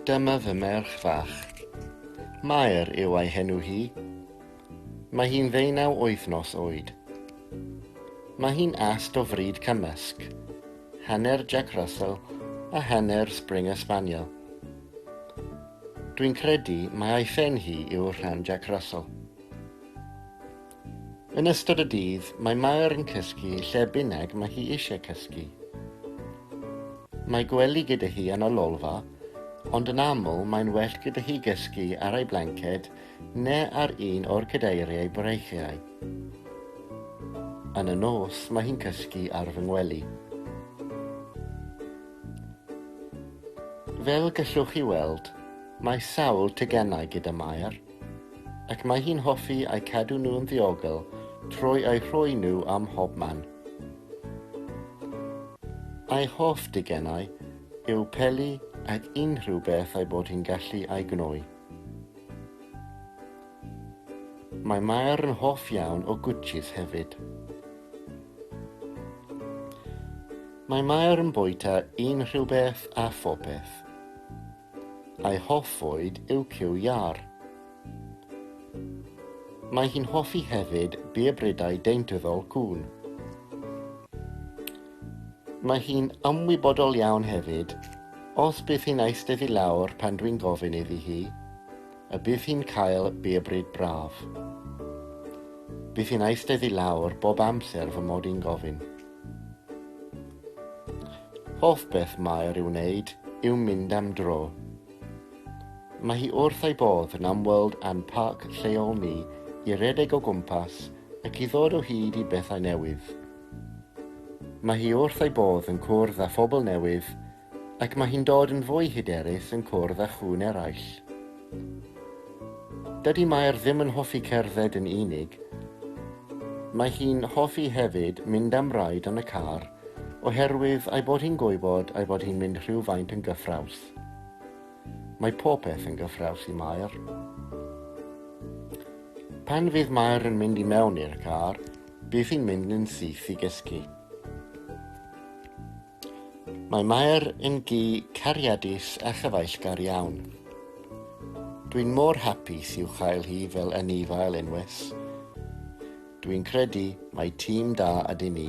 Dyma fy merch fach. Mair yw ei henw hi. Mae hi'n ddeunaw wythnos oed. Mae hi'n ast o fryd cymysg, hanner Jack Russell a hanner Springer Spaniel. Dwi'n credu mai ei phen hi yw'r rhan Jack Russell. Yn ystod y dydd, mae Mair yn cysgu lle bynnag mae hi eisiau cysgu. Mae gwely gyda hi yn y lolfa, ond yn aml mae'n well gyda hi gysgu ar ei blanced ne ar un o'r cadeiriau breichiau. Yn y nos, mae hi'n cysgu ar fy ngwely. Fel gallwch chi weld, mae sawl teganau gyda Mair. Ac mae hi'n hoffi eu cadw nhw'n ddiogel trwy eu rhoi nhw ym mhob man. Ei hoff digenau yw peli ac unrhyw beth ei bod hi'n gallu ei gnoi. Mae Mair yn hoff iawn o gwtshis hefyd. Mae Mair yn bwyta unrhyw beth a phopeth. a'i hoff fwyd yw cyw iâr. Mae hi'n hoffi hefyd biobrydau deintyddol cŵn. Mae hi'n ymwybodol iawn hefyd os bydd hi'n eistedd i lawr pan dwi'n gofyn iddi hi, y bydd hi'n cael biobryd braf. Bydd hi'n eistedd i lawr bob amser fy mod i'n gofyn. Hoff beth Mair i'w wneud yw mynd am dro. Mae hi wrth ei bodd yn ymweld â'n parc lleol ni i redeg o gwmpas ac i ddod o hyd i bethau newydd. Mae hi wrth ei bodd yn cwrdd â phobl newydd Ac mae hi'n dod yn fwy hyderus yn cwrdd â chŵn eraill. Dydy Mair ddim yn hoffi cerdded yn unig. Mae hi'n hoffi hefyd mynd am raid yn y car oherwydd ei bod hi'n gwybod ei bod hi'n mynd rhywfaint yn gyffrous. Mae popeth yn gyffrous i Mair. Pan fydd Mair yn mynd i mewn i'r car, bydd hi'n mynd yn syth i gysgu. Mae Mair yn gi cariadus a chyfaill-gar iawn. Dwi'n mor hapus i'w chael hi fel anifail unwes. Dwi'n credu mai tîm da ydyn ni.